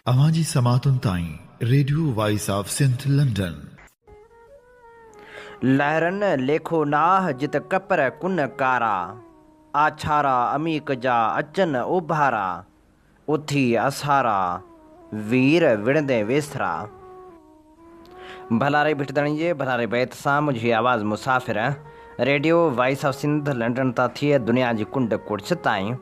اوهان جي سماعتن تائين radio voice of Sindh London. لهرن ليکو ناهه جت ڪپر ڪن ڪارا، آڇارا عميق جا اچن اوڀارا، اٿي اسهارا، وير وڙهندين ويسرا. ڀلاري ڀٽ ڌڻي جي ڀلاري بيت سان منهنجي آواز مسافر radio voice of Sindh London تان ٿئي دنيا جي ڪنڊ ڪڙڇ تائين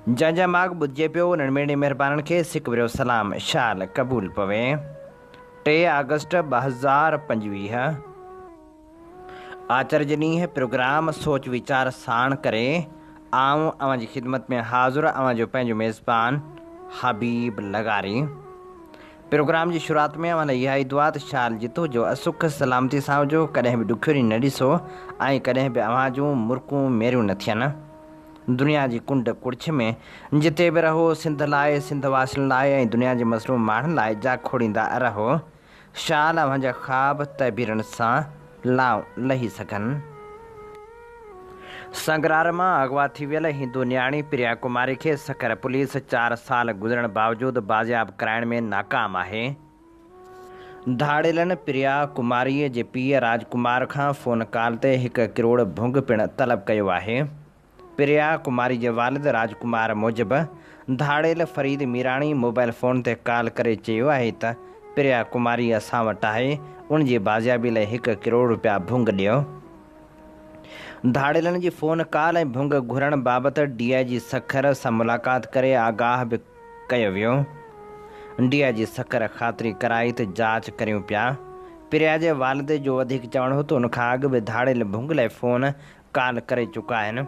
جنهن جا ماڳ ٻڌجي پيو انهن ميڙني مهربانن کي سڪ وريو سلام شال قبول پوي ٽي آگسٽ ٻه هزار پنجويهه. آچر جي ڏينهن پروگرام سوچ ويچار ساڻ ڪري آئون اوهان جي خدمت ۾ حاضر اوهان جو پنهنجو ميزبان حبيب لغاري پروگرام جي شروعات ۾ اوهان لاء اها ئي دعا ته شال جتو جو اسک سلامتي سان هجو ڪڏهن به ڏکيو ڏينهن نه ڏسو ۽ ڪڏهن به اوهان جون مرڪون ميريون نه ٿين دنيا جي ڪنڊ ڪڙڇ ۾ جتي به رهو سنڌ لاء سنڌ واسين لاء ۽ دنيا جي مظلوم ماڻهن لاء جا کوڙيندا رهو. شال اوهان جا خواب تعبيرن سان لائون لهي سگهن. سنگرار مان اغوا ٿي ويل هندو نياڻي پريا ڪماري کي سکر پوليس چار سال گذرڻ باوجود بازياب ڪرائڻ ۾ ناڪام آهي. ڌاڙيلن پريا ڪماري جي پيء راج ڪمار کان فون ڪال تي هڪ ڪروڙ ڀونگ پڻ طلب ڪيو آهي. پريا ڪماري جي والد راج ڪمار موجب، ڌاڙيل فريد ميراڻي موبائل فون تي ڪال ڪري چيو آهي ته پريا ڪماري اسان وٽ آهي، ان جي بازيابي لاء هڪ ڪروڙ رپيا ڀونگ ڏيو. ڌاڙيلن جي فون ڪال ۽ ڀونگ گهرڻ بابت ڊي آء جي سکر سان ملاقات ڪري آگاهه به ڪيو ويو. ڊي آء جي سکر خاطري ڪرائي ته جاچ ڪريون پيا. پريا جي والد جو وڌيڪ چوڻ هو ته ان کان اڳ به ڌاڙيل ڀونگ لاء فون ڪال ڪري چڪا آهن،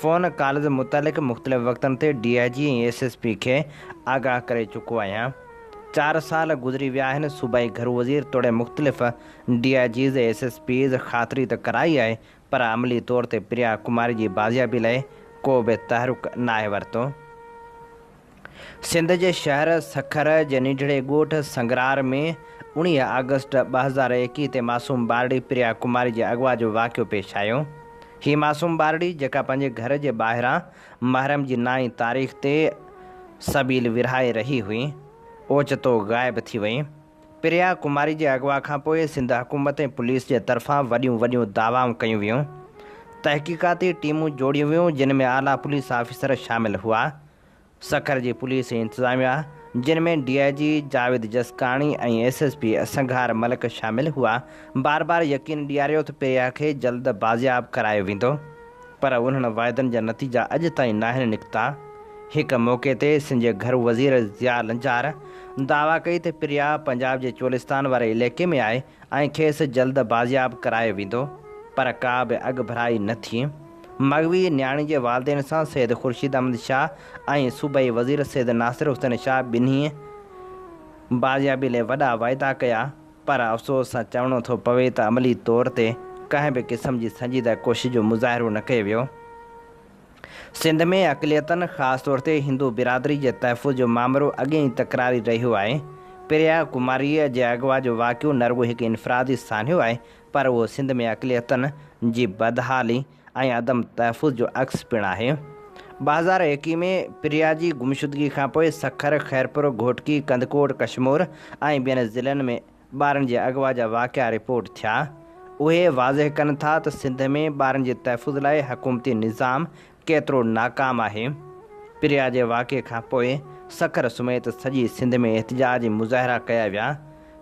فون ڪالز متعلق مختلف وقتن تي D I G ۽ S S P کي آگاهه ڪري چڪو آهيان، چار سال گذري ويا آهن، صوبائي گهرو وزير توڙي مختلف D I Gs, S S Ps خاطري ته ڪرائي آهي پر عملي طور تي پريا ڪماري جي بازيابي لئه ڪو به تحرڪ ناهي ورتو. سنڌ جي شهر سکر جي ننڍڙي ڳوٺ سنگرار ۾ اوڻيهه آگسٽ ٻه هزار ايڪيهه تي معصوم ٻارڙي پريا ڪماري جي اغوا جو واقعو پيش آيو. هي معصوم ٻارڙي جيڪا پنهنجي گهر جي ٻاهران محرم جي نائين تاريخ تي سبيل ورهائي رهي هئي، اوچتو غائب ٿي وئي. پريا ڪماري جي اغوا کانپوء سنڌ حڪومت ۽ پوليس جي طرفان وڏيون وڏيون دعوائون ڪيون ويون. تحقيقاتي ٽيمون جوڙيون ويون جن ۾ اعليٰ پوليس آفيسر شامل هئا. سکر جي پوليس ۽ انتظاميا جن ۾ D I G Javed Jiskani ۽ S S P اسنگھار ملڪ شامل ھئا بار بار يقين ڏياريو ته پيريا کي جلد بازياب ڪرايو ويندو پر انھن واعدن جا نتيجا اڄ تائين ناھن نڪتا ھڪ موقعي تي سنڌ جي گھرو وزير ضياء لنجار دعويٰ ڪئي ته پيريا پنجاب جي چولستان واري عليقي ۾ آھي ۽ کيس جلد بازياب ڪرايو ويندو، پر ڪا به اڳڀرائي نه ٿي. مغوي نياڻي جي والدين سان سيد خورشيد احمد شاهه ۽ صوبائي وزير سيد ناصر حسين شاهه ٻنهي بازيابي لئي وڏا واعدا ڪيا، پر افسوس سان چوڻو ٿو پوي ته عملي طور تي ڪنهن به قسم جي سنجيده ڪوشش جو مظاهرو نه ڪيو ويو. سنڌ ۾ اقليتن خاص طور تي هندو برادري جي تحفظ جو مامرو اڳين ئي تڪراري رهيو آهي. پريا ڪماريء جي اغوا جو واقعو نه رڳو هڪ انفرادي سانحو آهي پر اهو سنڌ ۾ اقليتن جي بدحالي ۽ عدم تحفظ جو عڪس پڻ آهي. ٻه هزار ايڪيهه ۾ پريا جي گمشدگي کانپوء سکر، خيرپور، گهوٽڪي، ڪنڌڪوٽ، ڪشمور ۽ ٻين ضلعن ۾ ٻارن جي اغوا جا واقعا رپورٽ ٿيا، اهي واضح ڪن ٿا ته سنڌ ۾ ٻارن جي تحفظ لاء حڪومتي نظام ڪيترو ناڪام آهي. پريا جي واقعي کان پوء سکر سميت سڄي سنڌ ۾ احتجاج مظاهرا ڪيا ويا.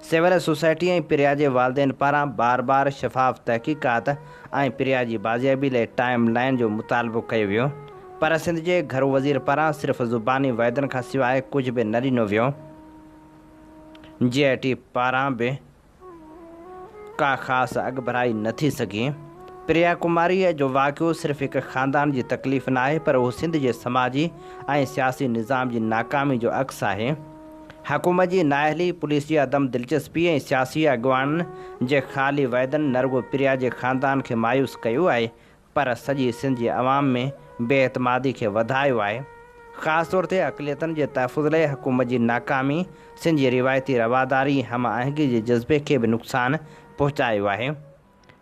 سول سوسائٽي ۽ پريا جي والدين پاران بار بار شفاف تحقيقات ۽ پريا جي بازيابي لاء ٽائيم لائين جو مطالبو ڪيو ويو پر سنڌ جي گهرو وزير پاران صرف زباني وعدن کان سواء ڪجهه به نه ڏنو ويو. جي آء ٽي پاران به ڪا خاص اڳڀرائي نه ٿي سگهي. پريا ڪماريء جو واقعو صرف هڪ خاندان جي تڪليف ناهي پر اهو سنڌ جي سماجي ۽ سياسي نظام جي ناڪامي جو عڪس آهي. حڪومت جي نااهلي، پوليس جي عدم دلچسپي ۽ سياسي اڳواڻن جي خالي وعدن نه رڳو پريا جي خاندان کي مايوس ڪيو آهي پر سڄي سنڌ جي عوام ۾ بي اعتمادي کي وڌايو آهي، خاص طور تي اقليتن جي تحفظ لئي حڪومت جي ناڪامي سنڌ جي روايتي رواداري ۽ هم آهنگي جي جذبي کي به نقصان پهچايو آهي.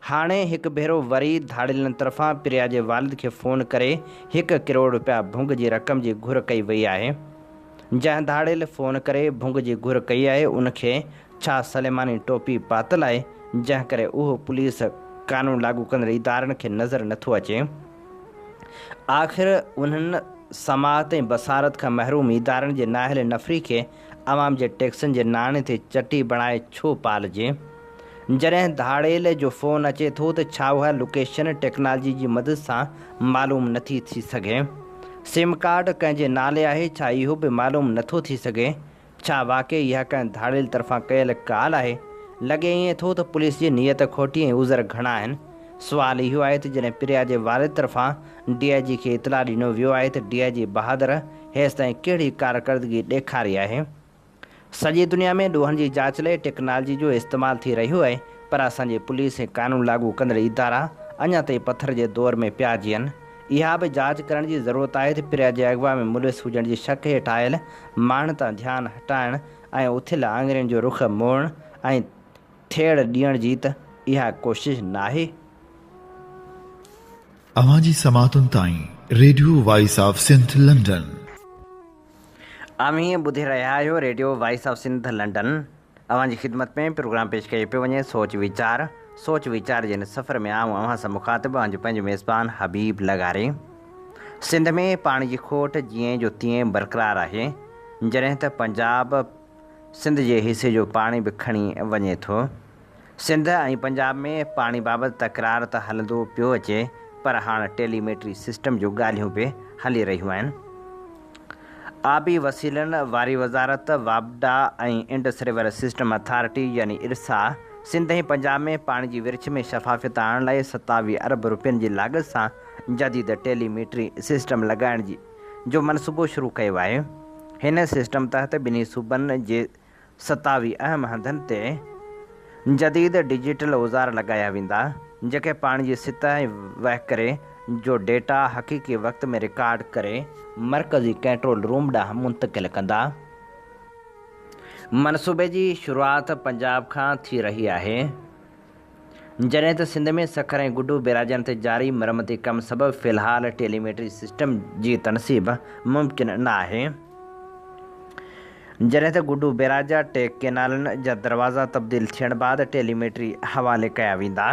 هاڻي هڪ ڀيرو وري ڌاڙيلن طرفان پريا جي والد کي فون ڪري هڪ ڪروڙ رپيا ڀونگ جي رقم جي گهر ڪئي وئي آهي. جنهن ڌاڙيل فون ڪري ڀونگ جي گهر ڪئي آهي ان کي ڇا سليماني ٽوپي پاتل آهي جنهن ڪري اهو پوليس قانون لاڳو ڪندڙ ادارن کي نظر نٿو اچي آخر انهن سماعت ۽ بصارت کان محروم ادارن جي نااهل نفري کي عوام جي ٽيڪسن جي ناڻي تي چٽي بڻائي ڇو پالجي. جڏهن ڌاڙيل جو فون اچي ٿو ته ڇا اها لوڪيشن ٽيڪنالجي جي مدد سان معلوم نٿي ٿي سگهي؟ سم ڪارڊ ڪنهن جي نالي آهي ڇا اهو به معلوم نٿو ٿي سگهي؟ ڇا واقعي اها ڪنهن ڌاڙيل طرفان ڪيل ڪال آهي؟ لڳي ائين ٿو ته پوليس جي نيت کوٽي ۽ عذر گهڻا آهن. سوال اهو آهي ته جڏهن پريا جي والد طرفان ڊي آء جي کي اطلاع ڏنو ويو آهي ته ڊي آء جي بهادر هيستائين ڪهڙي ڪارڪردگي ڏيکاري آهي؟ سڄي دنيا ۾ ڏوهن جي جاچ لاء ٽيڪنالجي جو استعمال ٿي رهيو آهي پر اسان جي پوليس ۽ قانون لاڳو ڪندڙ ادارا اڃا تائين پٿر جي دور ۾ پيا جيئن. اها به جاچ ڪرڻ جي ضرورت آهي ته پريا جي اغوا ۾ ملوث هجڻ جي شڪ هيٺ آيل ماڻهن تان ڌيان هٽائڻ ۽ اٿيل آڱرين جو رخ موڙڻ ۽ ٿيڙ ڏيڻ جي ته اها ڪوشش ناهي؟ اوهان جي سماعتن تائين radio voice of Sindh London. اوهين ٻڌي رهيا آهيو radio voice of Sindh London اوهان جي خدمت ۾ پروگرام پيش ڪيو پيو وڃي سوچ ويچار سوچ ويچار جي هن سفر ۾ آئون اوهان سان مخاطب اوهان جو پنهنجو ميزبان حبيب لغاري سنڌ ۾ پاڻي جي کوٽ جيئن جو تيئن برقرار آهي جڏهن ته پنجاب سنڌ جي حصي جو پاڻي به کڻي وڃي ٿو سنڌ ۽ پنجاب ۾ پاڻي بابت تڪرار ته هلندو پيو اچي پر هاڻ ٽيلي ميٽري سسٽم جون ڳالهيون به هلي رهيون آهن. آبي وسيلن واري وزارت، واپڊا ۽ انڊس ريور سسٽم اٿارٽي يعني ارسا سنڌ ۽ پنجاب ۾ پاڻي جي ورڇ ۾ شفافيت آڻڻ لاء ستاويهه ارب رپين جي لاڳت سان جديد ٽيلي ميٽري سسٽم لڳائڻ جو منصوبو شروع ڪيو آهي. هن سسٽم تحت ٻنهي صوبن جي ستاوي اهم هنڌن تي جديد ڊجيٽل اوزار لڳايا ويندا، جيڪي پاڻي جي سطح ۽ وهڪري جو ڊيٽا حقيقي وقت ۾ رڪارڊ ڪري، مرڪزي ڪنٽرول روم ڏانهن منتقل ڪندا، منصوبي جي شروعات پنجاب کان ٿي رهي آهي. جڏهن ته سنڌ ۾ سکر ۽ گڊو بيراجن تي جاري مرمتي ڪم سبب في الحال ٽيلي ميٽري سسٽم جي تنصيب ممڪن نه آهي، جڏهن ته گڊو بيراجا ٽي ڪينالن جا دروازا تبديل ٿيڻ بعد ٽيلي ميٽري حوالي ڪيا ويندا.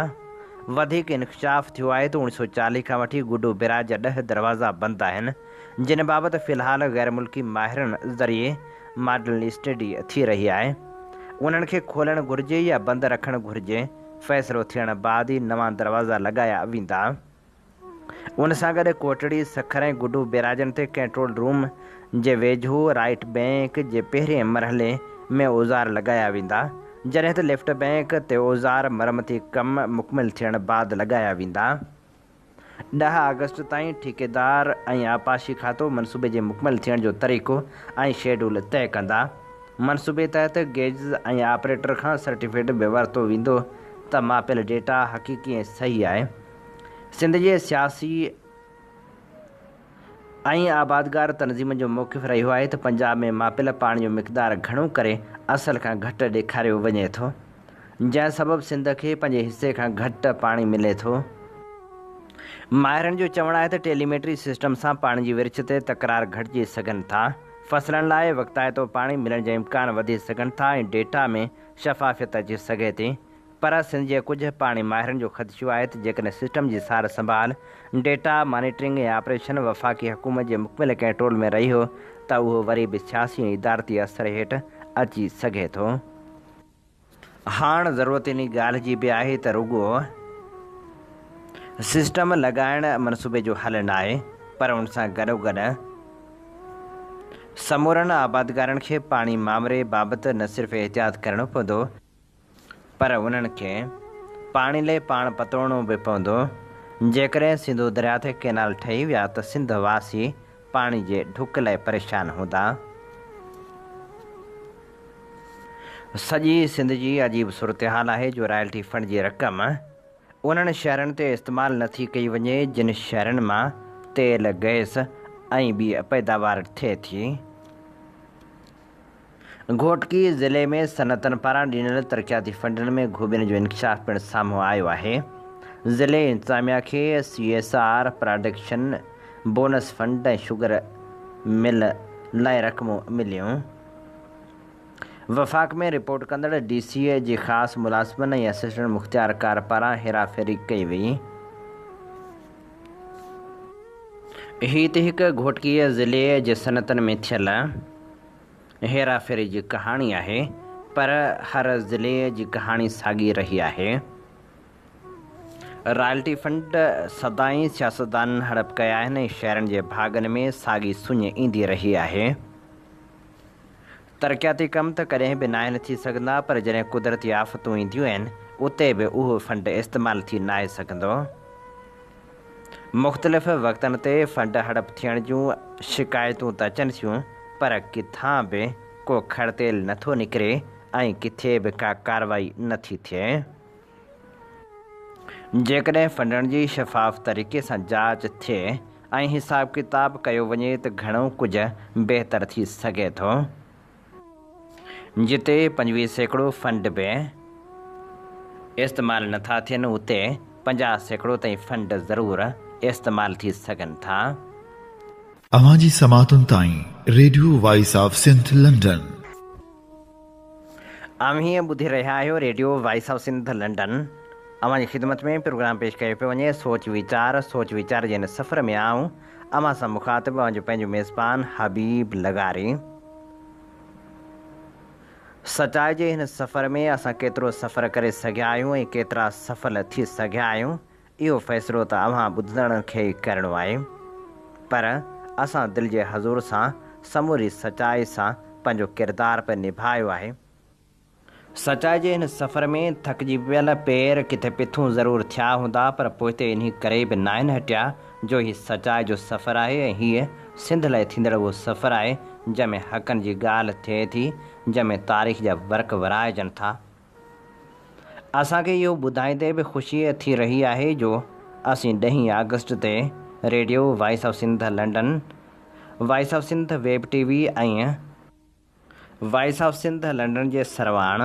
وڌيڪ انڪشاف ٿيو آهي ته اوڻ سؤ چاليهه کان وٺي گڊو بيراج جا ڏهه دروازا بند آهن، جنھن بابت في الحال غير ملڪي ماهرن ذريعي ماڊل اسٽڊي ٿي رهي آهي، انھن کي کولڻ گهرجي يا بند رکڻ گهرجي، فيصلو ٿيڻ بعد ئي نوان دروازا لڳايا ويندا. ان سان گڏ ڪوٽڙي، سکر ۽ گڊو بيراجن تي ڪنٽرول روم جي ويجهو رائيٽ بئنڪ جي پهرين مرحلي ۾ اوزار لڳايا ويندا، جڏهن ته ليفٽ بئنڪ تي اوزار مرمتي ڪم مڪمل ٿيڻ بعد لڳايا ويندا. ڏهه آگسٽ تائين ٺيڪيدار ۽ آبپاشي کاتو منصوبي جي مڪمل ٿيڻ جو طريقو ۽ شيڊول طئي ڪندا. منصوبي تحت گيجز ۽ آپريٽر کان سرٽيفڪيٽ به ورتو ويندو ته ماپيل ڊيٽا حقيقي ۽ صحيح آهي. سنڌ جي سياسي. ائين آبادگار تنظيمن جو موقف رهيو آهي ته پنجاب ۾ ماپيل پاڻي جو مقدار گهڻو ڪري اصل کان گهٽ ڏيکاريو وڃي ٿو، جنهن سبب سنڌ کي پنهنجي حصي کان گهٽ پاڻي ملي ٿو. ماهرن جو چوڻ آهي ته ٽيليميٽري سسٽم سان پاڻي جي ورڇ تي تڪرار گهٽجي سگهن ٿا، فصلن لاء وقتائتو پاڻي ملڻ جا امڪان وڌي سگهن ٿا ۽ ڊيٽا ۾ شفافيت اچي سگهي ٿي. پر سنڌ جي ڪجهه پاڻي ماهرن جو خدشو آهي ته جيڪڏهن سسٽم جي سار سنڀال، ڊيٽا مانيٽرنگ ۽ آپريشن وفاقي حڪومت جي مڪمل ڪنٽرول ۾ رهيو ته اهو وري به سياسي ۽ ادارتي اثر هيٺ اچي سگهي ٿو. هاڻ ضرورت انهي ڳالهه جي به آهي ته رڳو سسٽم لڳائڻ منصوبي جو حل ناهي پر ان سان گڏوگڏ سمورن آبادگارن کي پاڻي مامري بابت نه صرف احتياط ڪرڻو پوندو، پر انهن کي پاڻي لئي پاڻ پتوڙڻو به پوندو، جيڪڏهن سنڌو درياء تي ڪئنال ٺهي ويا ته سنڌ واسي پاڻي جي ڍڪ لئي پريشان هوندا. سڄي سنڌ جي عجيب صورتحال آهي جو رائلٽي فنڊ جي رقم انهن شهرن تي استعمال نه ٿي ڪئي وڃي جن شهرن مان تيل، گئس ۽ ٻي پيداوار ٿئي ٿي. گهوٽڪي ضلعي ۾ صنعتن پاران ڏنل ترقياتي فنڊن ۾ گهوٻين جو انڪشاف پڻ سامهون آيو آهي، ضلعي انتظاميا کي C S R, production bonus fund ۽ sugar mill لاء رقمون مليون، وفاق ۾ رپورٽ ڪندڙ ڊي سي اي جي خاص ملازمن ۽ اسسٽنٽ مختيارڪار پاران هيراڦيري ڪئي وئي. هي ته هڪ گهوٽڪي ضلعي جي صنعتن ۾ ٿيل. هيرا ڦيري جي ڪهاڻي آهي پر هر ضلعي جي ڪهاڻي ساڳي رهي آهي. رائلٽي فنڊ سدائين سياستدانن هڙپ ڪيا آهن ۽ شهرين جي ڀاڳن ۾ ساڳي سڃ ايندي رهي آهي. ترقياتي ڪم ته ڪڏهن به ناهن ٿي سگهندا پر جڏهن قدرتي آفتون اينديون آهن اتي به اهو فنڊ استعمال ٿي ناهي سگهندو. مختلف وقتن تي فنڊ هڙپ ٿيڻ جون شڪايتون ته اچن ٿيون پر ڪٿان به ڪو کڙ تيل نه ٿو نڪري ۽ ڪٿي به ڪا ڪارروائي نه ٿي ٿئي. جيڪڏهن فنڊن جي شفاف طريقي سان جاچ ٿئي ۽ حساب ڪتاب ڪيو وڃي ته گهڻو ڪجهه بهتر ٿي سگهي ٿو. جتي پنجويهه سيڪڙو فنڊ به استعمال نه ٿا ٿين اتي پنجاهه سيڪڙو تائين فنڊ ضرور استعمال ٿي سگهن ٿا. اوهان جي سماعتن تائين radio voice of Sindh London. اوهين ٻڌي رهيا آهيو radio voice of Sindh London اوهان جي خدمت ۾ پروگرام پيش ڪيو پيو وڃي سوچ ويچار سوچ ويچار جي هن سفر ۾ آئون اوهان سان مخاطب اوهان جو پنهنجو ميزبان حبيب لغاري. سچائي جي هن سفر ۾ اسان ڪيترو سفر ڪري سگهيا آهيون ۽ ڪيترا سفل ٿي سگهيا آهيون اهو فيصلو ته اوهان ٻڌندڙن کي ئي ڪرڻو آهي پر اسان دل جي حضور سان سموري سچائي سان پنهنجو ڪردار به نڀايو آهي سچائي جي هن سفر ۾ ٿڪجي پيل پير ڪٿي پٿون ضرور ٿيا هوندا پر پوئتي انهي ڪري به ناهن هٽيا جو هي سچائي جو سفر آهي ۽ هيء سنڌ لاء ٿيندڙ اهو سفر آهي جنهن ۾ حقن جي ڳالهه ٿئي ٿي جنهن ۾ تاريخ جا ورق ورائجن ٿا اسان کي اهو ٻڌائيندي به خوشي ٿي رهي آهي جو اسين ڏهين آگسٽ تي radio voice of Sindh London voice of Sindh web TV ۽ voice of Sindh London جي سرواڻ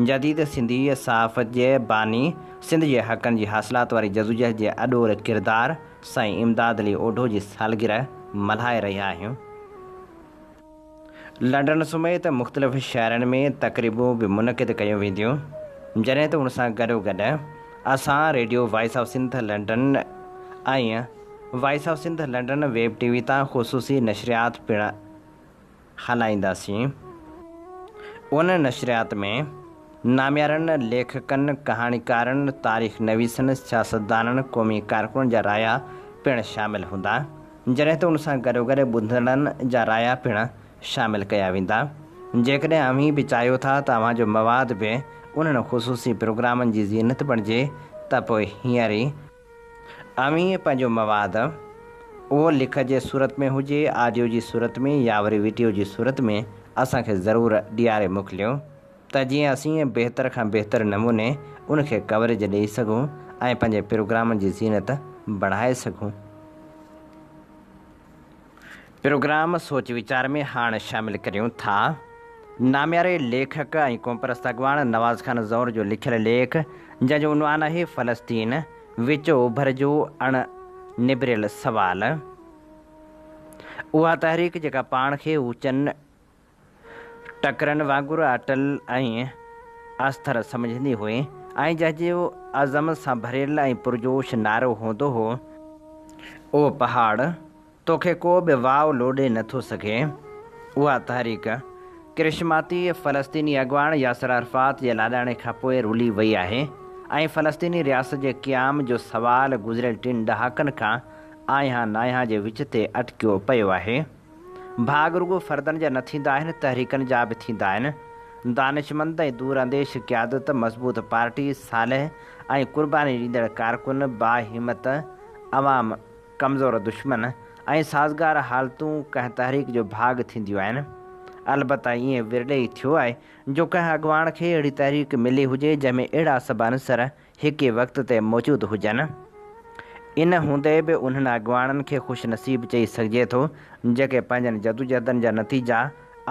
جديد سنڌي صحافت جي باني سنڌ جي حقن جي حاصلات واري جدوجهد جي اڏول ڪردار سائين امداد علي اوڍو جي سالگرهه ملهائي رهيا آهيون لنڊن سميت مختلف شهرن ۾ تقريبون به منعقد ڪيون وينديون جڏهن ته ان سان گڏو گڏ اسان radio voice of Sindh London ۽ voice of Sindh London web TV تان خصوصي نشريات پڻ هلائينداسين. ان نشريات ۾ ناميارن ليکڪن، ڪهاڻيڪارن، تاريخ نويسن، سياستدانن، قومي ڪارڪنن جا رايا پڻ شامل هوندا، جڏهن ته ان سان گڏوگڏ ٻڌندڙن جا رايا پڻ شامل ڪيا ويندا. جيڪڏهن اوهين به چاهيو ٿا ته اوهان جو مواد به انهن خصوصي پروگرامن جي زينت بڻجي ته پوء هينئر ئي اوهين پنهنجو مواد، اهو لک جي صورت ۾ هجي، آڊيو جي صورت ۾ يا وري وڊيو جي صورت ۾ اسان کي ضرور ڏياري موڪليو ته جيئن اسين بهتر کان بهتر نموني ان کي ڪوريج ڏئي سگهون ۽ پنهنجي پروگرامن جي زينت بڻائي سگهون. پروگرام سوچ ويچار ۾ هاڻ شامل ڪريون ٿا. نامياري ليکڪ ۽ قومپرست اڳواڻ نواز خان زئور جو لکيل ليک جنهن جو عنوان آهي فلسطين، وچ اوڀر جو اڻ نبريل سوال. اها تحريڪ جيڪا پاڻ کي اوچن، ٽڪرن وانگر اٽل ۽ استر سمجهندي هئي ۽ جنهنجو عزم سان ڀريل ۽ پرجوش نعرو هوندو هو، او پهاڙ! توکي ڪو به واء لوڏي نه ٿو سگهي. اها تحريڪ ڪرشماتي فلسطيني اڳواڻ ياسر عرفات جي لاڏاڻي کان پوء رلي وئي آهي ۽ فلسطيني رياست جي قيام جو سوال گذريل ٽن ڏهاڪن کان آينهان ناينهان جي وچ تي اٽڪيو پيو آهي. ڀاڳ رڳو فردن جا نه ٿيندا آهن، تحريڪن جا به ٿيندا آهن. دانشمند ۽ دور انديش قيادت، مضبوط پارٽي، صالح ۽ قرباني ڏيندڙ ڪارڪن، باهمت عوام، ڪمزور دشمن ۽ سازگار حالتون ڪنهن تحريڪ جو ڀاڳ ٿينديون آهن. البته ائين ورلي ئي ٿيو آهي جو ڪنهن اڳواڻ کي اهڙي تحريڪ ملي هجي جنهن ۾ اهڙا سڀ عنصر هڪ ئي وقت تي موجود هجن. ان هوندي به انهن اڳواڻن کي خوش نصيب چئي سگهجي ٿو، جيڪي پنهنجن جدوجهدن جا نتيجا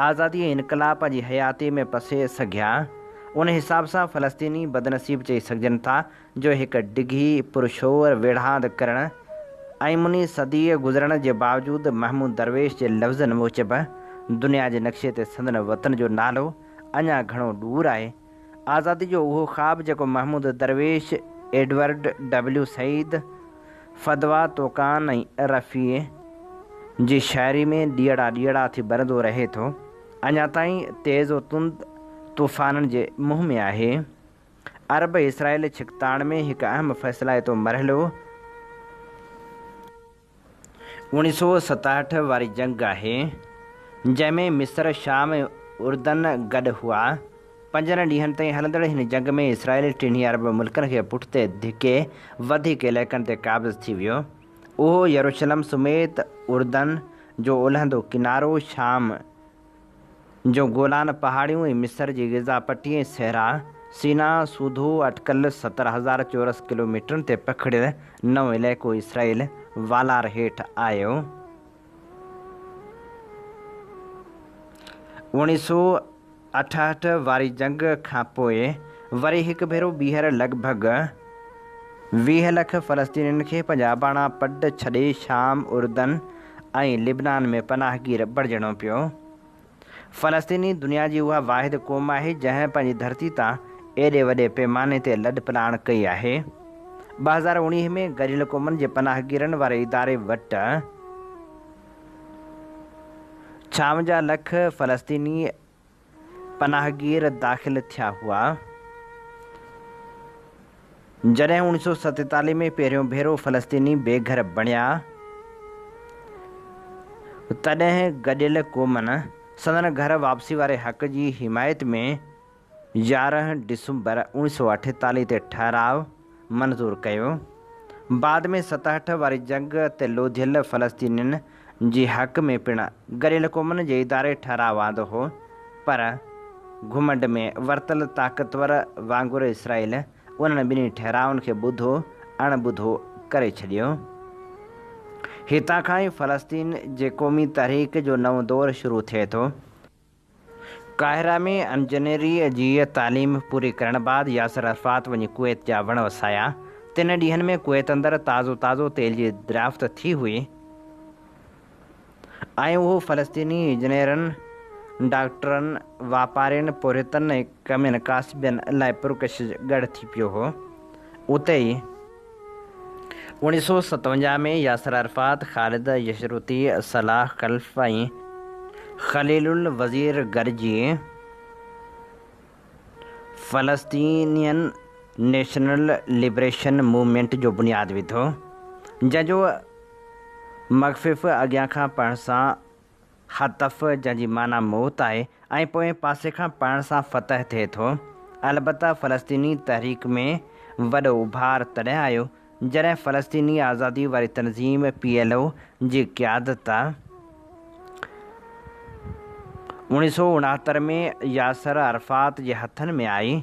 آزادي ۽ انقلاب پنهنجي حياتيء ۾ پسي سگهيا. ان حساب سان فلسطيني بدنصيب چئي سگهجن ٿا، جو هڪ ڊگهي پرشور ويڙهاند ڪرڻ ۽ مني صديء گذرڻ جي باوجود محمود درويش جي لفظن موجب دنيا جي نقشي تي سندن وطن جو نالو اڃا گهڻو ڏور آهي، آزادي جو اهو خواب جيڪو Mahmoud Darwish, Edward W Said, Fadwa Tuqan ۽ Rafi جي شاعري ۾ ڏيئڙا ڏيئڙا ٿي ٻرندو رهي ٿو، اڃا تائين تيز و تند طوفانن جي منهن ۾ آهي. عرب اسرائيل ڇڪتاڻ ۾ هڪ اهم فيصلائتو مرحلو. اوڻيهه سؤ ستاهٺ واري جنگ آهي، جنهن ۾ مصر، شام ۽ اردن گڏ هئا. پنجن ڏينهن تائين هلندڙ هن جنگ ۾ اسرائيل ٽنهي عرب ملڪن کي پٺتي ڌڪي وڌيڪ علائقن تي قابض ٿي ويو. اهو يروشلم سميت اردن جو اولهندو ڪنارو، شام جو گولان پهاڙيون ۽ مصر جي غذا پٽي ۽ صحرا سيناء سوڌو اٽڪل ستر هزار چورس ڪلوميٽرن تي پکڙيل نئون علائقو اسرائيل والار هيٺ آيو. اوڻيهه سؤ اٺاهٺ واري جنگ کان پوء وري هڪ ڀيرو ٻيهر لڳ ڀڳ ويهه لک فلسطينين کي پنهنجا اباڻا پڊ ڇڏي شام، اردن، ۽ لبنان ۾ پناهگير بڻجڻو پيو. فلسطيني دنيا جي اها واحد قوم آهي جنهن پنهنجي ڌرتي تان ايڏي وڏي پيماني تي لڏپلاڻ ڪئي آهي. ٻه هزار اوڻيهه ۾ گڏيل قومن جي پناهگيرن واري اداري وٽ ڇاونجاهه لک فلسطيني پناهگير داخل ٿيا هئا. جڏهن اوڻيھ سؤ ستيتاليھ ۾ پهريون ڀيرو فلسطيني بي گهر بڻيا تڏهن گڏيل قومن سندن گهر واپسي واري حق جي حمايت ۾ يارهن ڊسمبر اوڻيھ سؤ اٺيتاليھ تي ٺهراء منظور ڪيو. بعد ۾ ستهٺ واري جنگ تي لوڌيل فلسطينين جي حق ۾ پڻ گڏيل قومن جي اداري ٺهراء آندو هو پر گهمنڊ ۾ ورتل طاقتور وانگر اسرائيل انهن ٻنهي ٺهرائن کي ٻڌو اڻ ٻڌو ڪري ڇڏيو. هتان کان ئي فلسطين جي قومي تحريڪ جو نئون دور شروع ٿئي ٿو. قاهره ۾ انجنيريء جي تعليم پوري ڪرڻ بعد ياسر عرفات وڃي ڪويت جا وڻ وسايا. تن ڏينهن ۾ ڪويت اندر تازو تازو تيل جي دريافت ٿي هئي ۽ اهو فلسطيني انجنيرن، ڊاڪٽرن، واپارين، پورهيتن ۽ ڪمين ڪاسبين لاء پرڪشش ڳڙهه ٿي پيو هو. اتي ئي اوڻيھ سؤ ستونجاھ ۾ Yasser Arafat, Khalid Yashruti, Salah Khalaf ۽ Khalil al Wazir گڏجي فلسطينين نيشنل لبريشن موومينٽ جو بنياد وڌو، جنهن جو مخفف اڳيان کان پڙهڻ سان خطف، جنهن جي معنيٰ موت آهي ۽ پوئين پاسي کان پڙهڻ سان فتح ٿئي ٿو. البته فلسطيني تحريڪ ۾ وڏو اڀار تڏهن آيو، جڏهن فلسطيني آزادي واري تنظيم پي ايل او جي قيادت اوڻيهه سؤ اڻهتر ۾ ياسر عرفات جي هٿن ۾ آئي.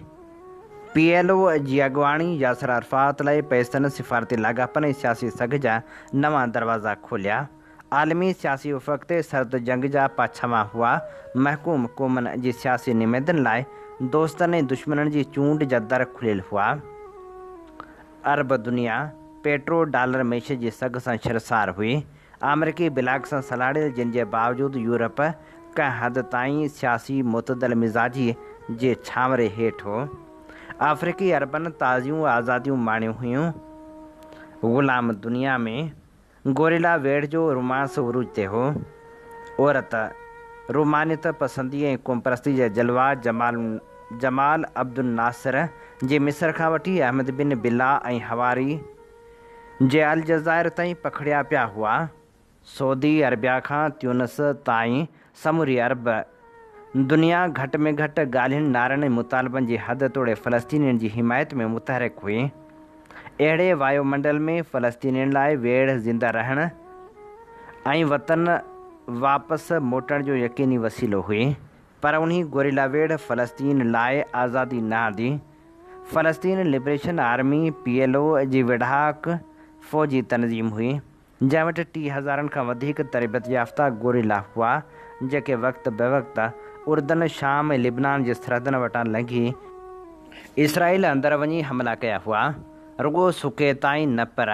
پي ايل او جي اڳواڻي ياسر عرفات لاء پئسن، سفارتي لاڳاپن ۽ سياسي سگهه جا نوان دروازا کوليا. عالمي سياسي افق تي سرد جنگ جا پاڇاما هئا، محڪوم قومن جي سياسي نمائندن لاء دوستن ۽ دشمنن جي چونڊ جا در کليل هئا. عرب دنيا پيٽرو ڊالر معيشت جي سگهه سان شرسار هئي. آمريڪي بلاڪ سان سلهاڙيل جن جي باوجود يورپ ڪنهن حد تائين سياسي معتدل مزاجي جي ڇانوري هيٺ هو. آفريڪي عربن تازيون آزاديون ماڻيون هيون. غلام دنيا ۾. گوريلا ويڙهه جو رومانس عروج تي هو. عورت، رومانيت پسندي ۽ قومپرستي جا جلوا جمال جمال عبدالناصر جي مصر کان وٺي احمد بن بلا ۽ حواري جي الجزائر تائين پکڙيا پيا هئا. سعودي عربيا کان تيونس تائين سموري عرب دنيا گهٽ ۾ گهٽ ڳالهين، نعرن ۽ مطالبن جي حد توڙي فلسطينين جي حمايت ۾ متحرڪ هئي. اهڙي وايو منڊل ۾ فلسطينين لاء ويڙهه زنده رهڻ ۽ وطن واپس موٽڻ جو يقيني وسيلو هئي. پر انهي گوريلا ويڙهه فلسطين لاء آزادي نه آندي. فلسطين liberation army, P L O, جي ويڙهاڪ فوجي تنظيم هئي. جنهن وٽ ٽي هزارن کان وڌيڪ تربيت يافته گوريلا هئا، جيڪي وقت بوقت اردن، شام ۽ لبنان جي سرحدن وٽان لنگهي اسرائيل اندر وڃي حملا ڪيا هئا، رڳو سڪي تائين نه پر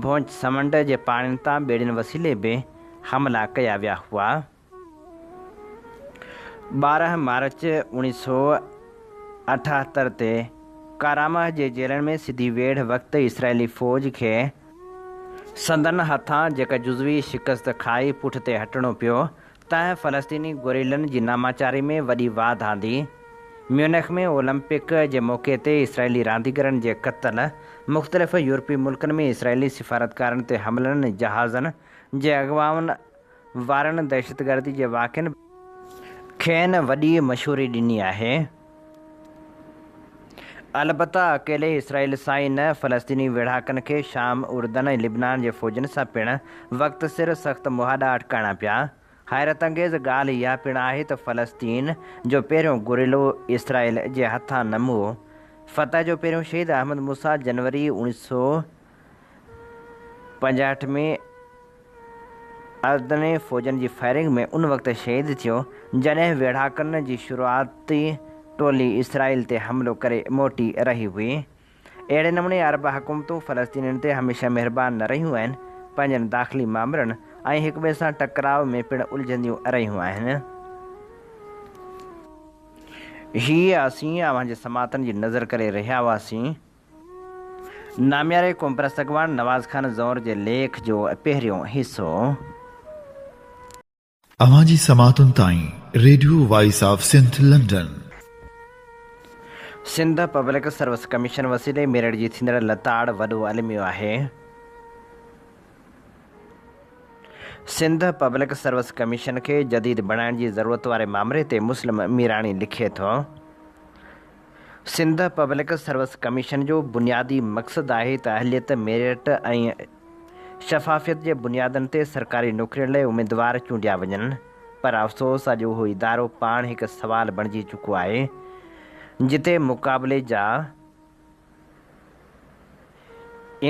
ڀونچ سمنڊ جي پاڻين تان ٻيڙين وسيلي به حملا ڪيا ويا هئا. ٻارهن مارچ اوڻيهه سؤ اٺاهتر تي ڪارامه جي جيلن ۾ سڌي ويڙهه وقت اسرائيلي فوج کي سندن هٿان جيڪا جزوي شڪست کائي پٺتي هٽڻو پيو تنهن فلسطيني گوريلن جي ناماچاري ۾ وڏي واڌ آندي. ميونخ ۾ اولمپڪ جي موقعي تي اسرائيلي رانديگرن جي قتل، مختلف يورپي ملڪن ۾ اسرائيلي سفارتڪارن تي حملن، جهازن جي اغوائن، وارن دهشتگردي جي واقعن کين وڏي مشهوري ڏني آهي. البته اڪيلي اسرائيل سان ئي نه فلسطيني ويڙهاڪن کي شام، اردن ۽ لبنان جي فوجن سان پڻ وقت سر سخت مهاڏا اٽڪائڻا پيا. حيرت انگيز ڳالهه اها پڻ آهي ته فلسطين جو پهريون گوريلو اسرائيل جي هٿان نه مئو. فتح جو پهريون شهيد احمد موسيٰ جنوري اڻيهه سؤ پنجاهٺ ۾ اردني فوجن جي فائرنگ ۾ ان وقت شهيد ٿيو جڏهن ويڙهاڪن جي شروعاتي ٽولي اسرائيل تي حملو ڪري موٽي رهي هئي. اهڙي نموني عرب حڪومتون فلسطينين تي هميشه مهربان نه رهيون آهن، پنهنجن داخلي مامرن ۽ هڪٻئي سان ٽڪراء ۾ پڻ الجهنديون رهيون آهن. هي اسين اوهان جي سماعتن جي نظر ڪري رهيا هئاسين. نامياري قومپرست اڳواڻ نواز خان زئور جي ليک جو پهريون حصو. اوهان جي سماعتن تائين radio voice of Sindh London. Sindh public service commission وسيلي ميرٺ جي ٿيندڙ لتاڙ وڏو الميو آهي. سنڌ پبلڪ سروس ڪميشن کي جديد بڻائڻ جي ضرورت واري مامري تي مسلم ميراڻي لکي ٿو. سنڌ پبلڪ سروس ڪميشن جو بنيادي مقصد آهي ته اهليت، ميرٽ ۽ شفافيت جي بنيادن تي سرڪاري نوڪرين لاء اميدوار چونڊيا وڃن پر افسوس اڄ اهو ادارو پاڻ هڪ سوال بڻجي چڪو آهي جتي مقابلي جا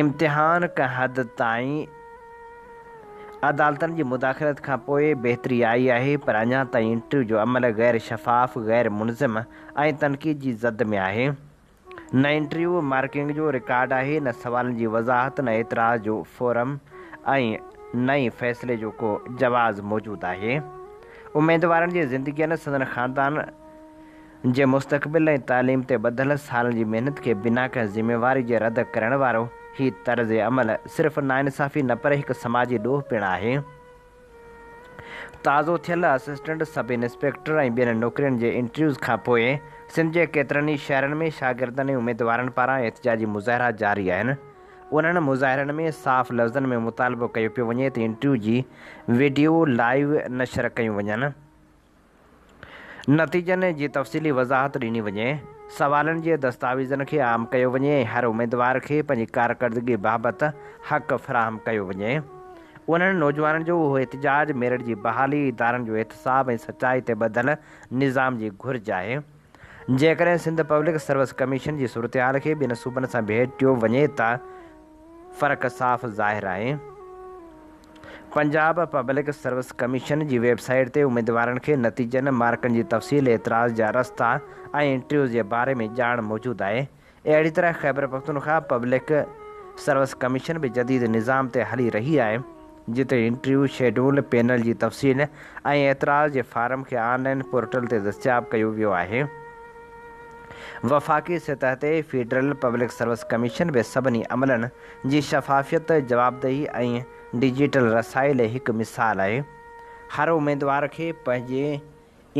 امتحان ڪنهن حد تائين عدالتن جي مداخلت کان پوء بهتري آئي آهي پر اڃا تائين انٽرويو جو عمل غير شفاف، غير منظم ۽ تنقيد جي زد ۾ آهي. نه انٽرويو مارڪنگ جو رڪارڊ آهي، نه سوالن جي وضاحت، نه اعتراض جو فورم ۽ نه ئي فيصلي جو ڪو جواز موجود آهي. اميدوارن جي زندگين، سندن خاندان، جي مستقبل ۽ تعليم تي ٻڌل سالن جي محنت کي بنا ڪنهن ذميواري جي رد ڪرڻ وارو هي طرز عمل صرف ناانصافي نه پر هڪ سماجي ڏوهه پڻ آهي. تازو ٿيل اسسٽنٽ سب انسپيڪٽر ۽ ٻين نوڪرين جي انٽرويوز کانپوء سنڌ جي ڪيترن ئي شهرن ۾ شاگردن ۽ اميدوارن پاران احتجاجي مظاهرا جاري آهن. انهن مظاهرن ۾ صاف لفظن ۾ مطالبو ڪيو پيو وڃي ته انٽرويو جي وڊيو لائيو نشر ڪيون وڃن. نتيجن جي تفصيلي وضاحت ڏني وڃي، سوالن جي دستاويزن کي عام ڪيو وڃي ۽ هر اميدوار کي پنهنجي ڪارڪردگي بابت حق فراهم ڪيو وڃي. انهن نوجوانن جو اهو احتجاج ميرٽ جي بحالي، ادارن جو احتساب ۽ سچائي تي ٻڌل نظام جي گهرج آهي. جيڪڏهن سنڌ پبلڪ سروس ڪميشن جي صورتحال کي ٻين صوبن سان ڀيٽيو وڃي ته فرق صاف ظاهر آهي. پنجاب پبلڪ سروس ڪميشن جي ويب سائيٽ تي اميدوارن کي نتيجن، مارڪن جي تفصيل، اعتراض جا رستا ۽ انٽرويوز جي باري ۾ ڄاڻ موجود آهي. اهڙي طرح خيبرپختونخواهه پبلڪ سروس ڪميشن به جديد نظام تي هلي رهي آهي، جتي انٽرويو شيڊول، پينل جي تفصيل ۽ اعتراض جي فارم کي آن لائين پورٽل تي دستياب ڪيو ويو آهي. وفاقي سطح تي فيڊرل پبلڪ سروس ڪميشن به سڀني عملن، جي شفافيت، جوابدهي ۽ ڊجيٽل رسائل هڪ مثال آهي. هر اميدوار کي پنهنجي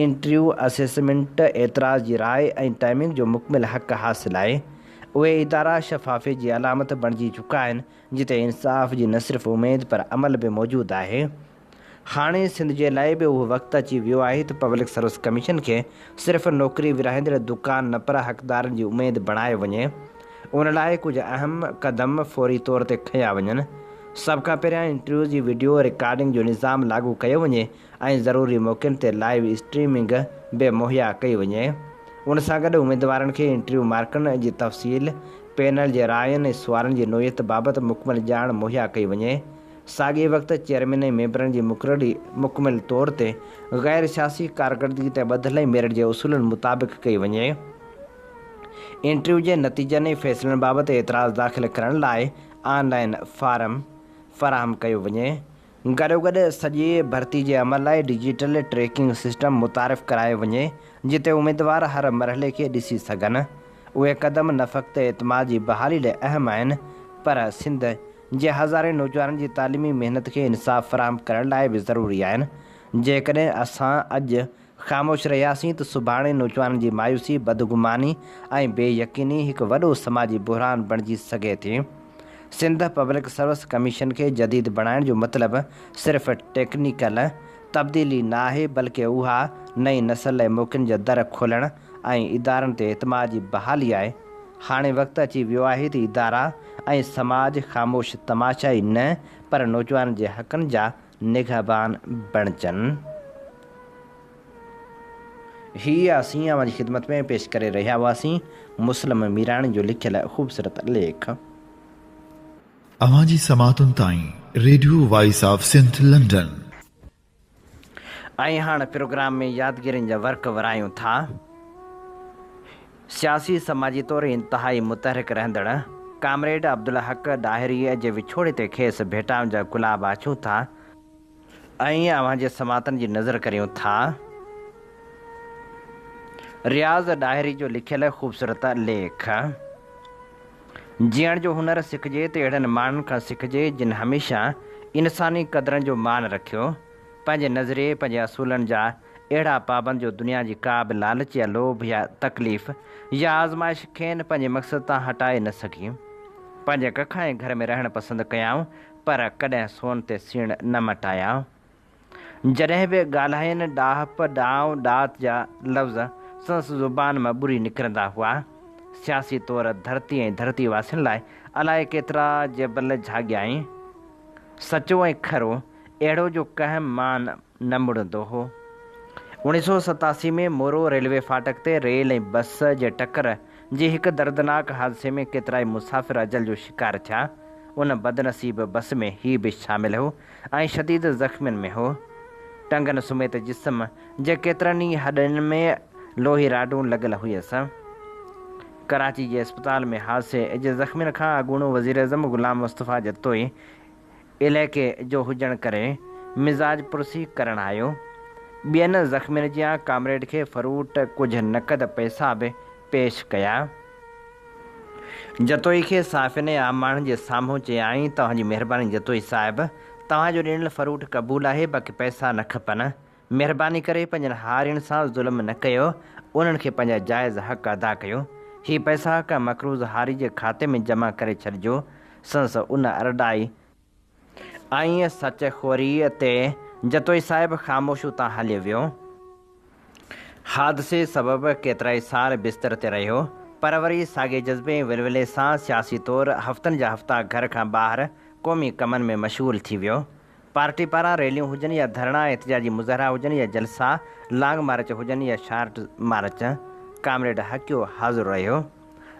انٽريو، اسيسمينٽ، اعتراض جي راء ۽ ٽائمنگ جو مڪمل حق حاصل آهي. اهي ادارا شفافيت جي علامت بڻجي چڪا آهن، جتي انصاف جي نه صرف اميد پر عمل به موجود آهي. هاڻي سنڌ جي لاء به اهو وقت اچي ويو آهي ته پبلڪ سروس ڪميشن کي صرف نوڪري ورهائيندڙ دڪان نه پر حقدارن جي اميد بڻايو وڃي. ان لاء ڪجهه اهم قدم فوري طور تي کنيا وڃن. سڀ کان پهريان انٽرويو جي وڊيو رڪارڊنگ جو نظام لاڳو ڪيو وڃي ۽ ضروري موقعن تي لائيو اسٽريمنگ به مهيا ڪئي وڃي. ان سان گڏ اميدوارن کي انٽرويو مارڪن جي تفصيل، پينل جي راين ۽ سوالن جي نوعيت بابت مڪمل ڄاڻ مهيا ڪئي وڃي. ساڳئي وقت چيئرمين ۽ ميمبرن جي مقرري مڪمل طور تي غير سياسي ڪارڪردگي تي ٻڌل ۽ ميرٽ جي اصولن مطابق ڪئي وڃي. انٽرويو جي نتيجن ۽ فيصلن بابت اعتراض داخل ڪرڻ لاء آن لائين فارم فراهم ڪيو وڃي. گڏوگڏ سڄي ڀرتي جي عمل لاء ڊجيٽل ٽريڪنگ سسٽم متعارف ڪرايو وڃي جتي اميدوار هر مرحلي کي ڏسي سگهن. اهي قدم نه فقط اعتماد جي بحالي لاء اهم آهن پر سنڌ جي هزارين نوجوانن جي تعليمي محنت کي انصاف فراهم ڪرڻ لاء به ضروري آهن، جيڪڏهن اسان اڄ خاموش رهياسين ته سڀاڻي نوجوانن جي مايوسي، بدگماني ۽ بي يقيني هڪ وڏو سماجي بحران بڻجي سگهي ٿي. سنڌ پبلڪ سروس ڪميشن کي جديد بڻائڻ جو مطلب صرف ٽيڪنيڪل تبديلي نه آهي بلڪه اها نئين نسل لاء موقعن جا در کولڻ ۽ ادارن تي اعتماد جي بحالي آهي، هاڻي وقت اچي ويو آهي ته ادارا ۽ سماج خاموش تماشا ئي نه پر نوجوانن جي حقن جا نگهبان بڻجن. هي اسين اوهان جي خدمت ۾ پيش ڪري رهيا هئاسين مسلم ميراڻي جو لکيل خوبصورت ليک. اوهان جي سماعتن تائين radio voice of Sindh London. ۽ هاڻ پروگرام ۾ يادگيرين جا ورق ورايون ٿا. سياسي سماجي طور انتهائي متحرڪ رهندڙ ڪامريڊ عبدالحق ڏاهريء جي وڇوڙي تي کيس ڀيٽائن جا گلاب آڇيون ٿا ۽ اوهان جي سماعتن جي نذر ڪريون ٿا. رياض ڏاهري جو لکيل خوبصورت ليک. جيئڻ جو هنر سکجي ته اهڙن ماڻهن کان سکجي جن هميشه انساني قدرن جو مان رکيو، پنهنجي نظريي پنهنجي اصولن جا اهڙا پابند جو دنيا جي ڪا به لالچ يا لوڀ يا تڪليف يا آزمائش کين پنهنجي مقصد تان هٽائي نه سگهي. پنهنجي ڪک ۽ گهر ۾ رهڻ پسند ڪيائون پر ڪڏهن سون تي سيڻ نه مٽايائون. جڏهن به ڳالهائين ڏاهپ، ڏانء، ڏات جا لفظ سندس زبان مان ٻري نڪرندا هئا. سياسي طور ڌرتي ۽ ڌرتي واسين لاء الاء ڪيترا جبل جهاڳيائين. سچو ۽ کرو اهڙو جو ڪنهن مان نه مڙندو هو. اوڻيهه سؤ ستاسي ۾ مورو ريلوي ڦاٽڪ تي ريل ۽ بس جي ٽڪر جي هڪ دردناڪ حادثي ۾ ڪيترائي مسافر اجل جو شڪار ٿيا. ان بدنصيب بس ۾ هي به شامل هو ۽ شديد زخمين ۾ هو. ٽنگن سميت جسم جي ڪيترن ئي هڏين ۾ لوهي راڊون لڳل هيس. ڪراچي جي اسپتال ۾ حادثي جي زخمين کان اڳوڻو وزيراعظم غلام مصطفيٰ جتوئي عليقي جو هجڻ ڪري مزاج پرسي ڪرڻ آيو. ٻين زخمين جيان ڪامريڊ کي فروٽ ڪجهه نقد پئسا به پيش ڪيا. جتوئي کي صحافين ۽ عام ماڻهن جي سامهون چيائين، توهان جي مهرباني جتوئي صاحب، توهان جو ڏنل فروٽ قبول آهي، باقي پئسا نه کپن. مهرباني ڪري پنهنجن هارين سان ظلم نه ڪيو، انهن کي پنهنجا جائز حق ادا ڪيو. هي پئسا ڪنهن مقروض هاري جي کاتي ۾ جمع ڪري ڇڏجو. سندس ان ارڏائي. ائين سچ خوريء تي جتوئي صاحب خاموش اتان هليو ويو. حادثي سبب ڪيترائي سال بستر تي رهيو، پر وري ساڳئي جذبي ۽ ولولي سان سياسي طور هفتن جا هفتا گهر کان ٻاهر قومي ڪمن ۾ مشغول ٿي ويو. پارٽي پاران ريليون هجن يا ڌرڻا ۽ احتجاجي مظاهرا هجن يا جلسا، لانگ مارچ هجن يا شارٽ مارچ، ڪامريڊ حقيو حاضر رهيو.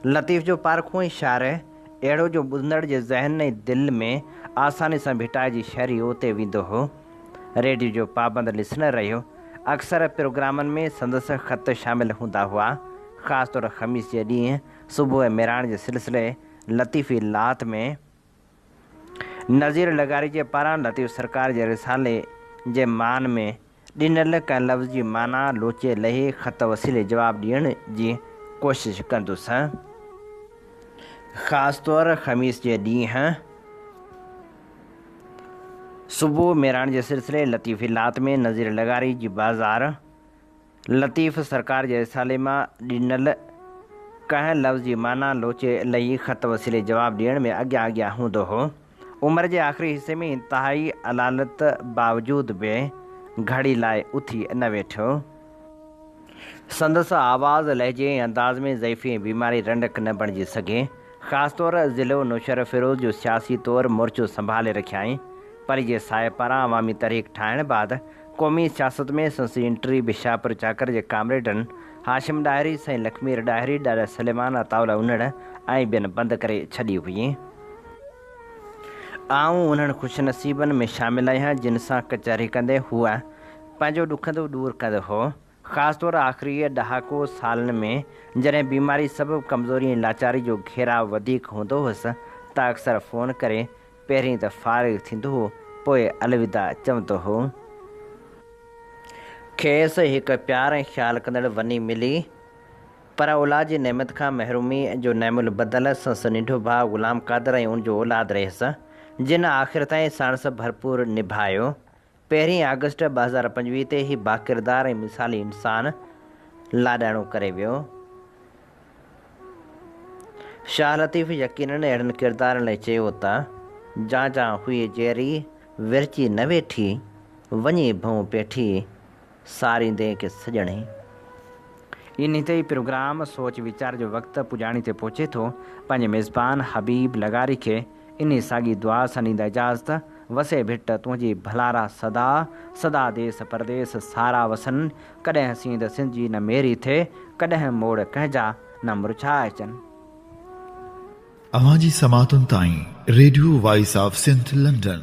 لطيف جو پارکو ۽ شعر اهڙو جو ٻڌندڙ جي ذهن ۽ دل ۾ آساني سان ڀٽائجي شري اوتي ويندو هو. ريڊيو جو پابند لسنر رهيو. اڪثر پروگرامن ۾ سندس خط شامل هوندا هئا. خاص طور خميس جي ڏينهن صبح ميراڻ جي سلسلي لطيفي لات ۾. نذير لغاريجي پاران لطيف سرڪار جي رسالي جي مان ۾ ڏنل ڪنهن لفظ جي معنيٰ لوچي لهي خط وسيلي جواب ڏيڻ جي ڪوشش ڪندس. خاص طور خميس جي ڏينهن صبح ميراڻ جي سلسلي لطيفي لات ۾ نذير لغاري جي بازار، لطيف سرڪار جي رسالي مان ڏنل ڪنهن لفظ جي معنيٰ لوچي لهي خط وسيلي جواب ڏيڻ ۾ اڳيان اڳيان هوندو هو. عمر جي آخري حصي ۾ انتهائي علالت باوجود به گهڙي لاء اٿي نه ويٺو. سندس آواز، لهجي ۽ انداز ۾ ضعيفي ۽ بيماري رنڊڪ نه بڻجي سگهي. خاص طور ضلع نوشهروفيروز جو سياسي طور مورچو سنڀالي رکيائين. پري جي ساهه پاران عوامي تحريڪ ٺاهڻ بعد قومي سياست ۾ سندس انٽري به شاهپور چاڪر جي ڪامريڊن هاشم ڏاهري، سائين لکمير ڏاهري، ڏاڏا سليمان، عطاء الله انڙ ۽ ٻين بند ڪري ڇڏي هئي. آئون انهن خوش نصيبن ۾ شامل آهيان، جن سان ڪچهري ڪندي هو پنهنجو ڏکندو ڏور ڪندو هو. خاص طور آخري ڏهاڪو سالن ۾ جڏهن بيماري سبب ڪمزوري ۽ لاچاري جو گهيراء وڌيڪ هوندو هوس ته اڪثر فون ڪري پهرين ته فارغ ٿيندو هو پوء الوداع چوندو هو. کيس هڪ پيار ۽ خيال ڪندڙ وني ملي پر اولاد جي نعمت کان محرومي جو نعم البدل سنس ننڍو ڀاء غلام قادر ۽ ان جو اولاد رهيس جن آخر تائين ساڻس ڀرپور نڀايو پهرين آگسٽ ٻه هزار پنجويهه تي هي باڪردار ۽ مثالي انسان لاڏاڻو ڪري ويو. شاهه لطيف يقينن اهڙن ڪردارن لاء چيو ته، جان جان هئي جيئري، ورچي نه ويٺي، وڃي ڀئون پيٺي، ساريندين کي سڄڻي. انهي تي ئي پروگرام سوچ ويچار جو وقت پڄاڻي تي پهچي ٿو. پنهنجي ميزبان حبيب لغاري کي انهي ساڳي دعا سان ڏيندا اجازت، وسي ڀٽ تنهنجي ڀلارا صدا، صدا ديس پرديس سارا وسن، ڪڏهن سينڌ سنڌ جي نه ميري ٿئي، ڪڏهن موڙ ڪنهن جا نه مرجهاء اچن. اوهان جي سماعتن تائين radio voice of Sindh London.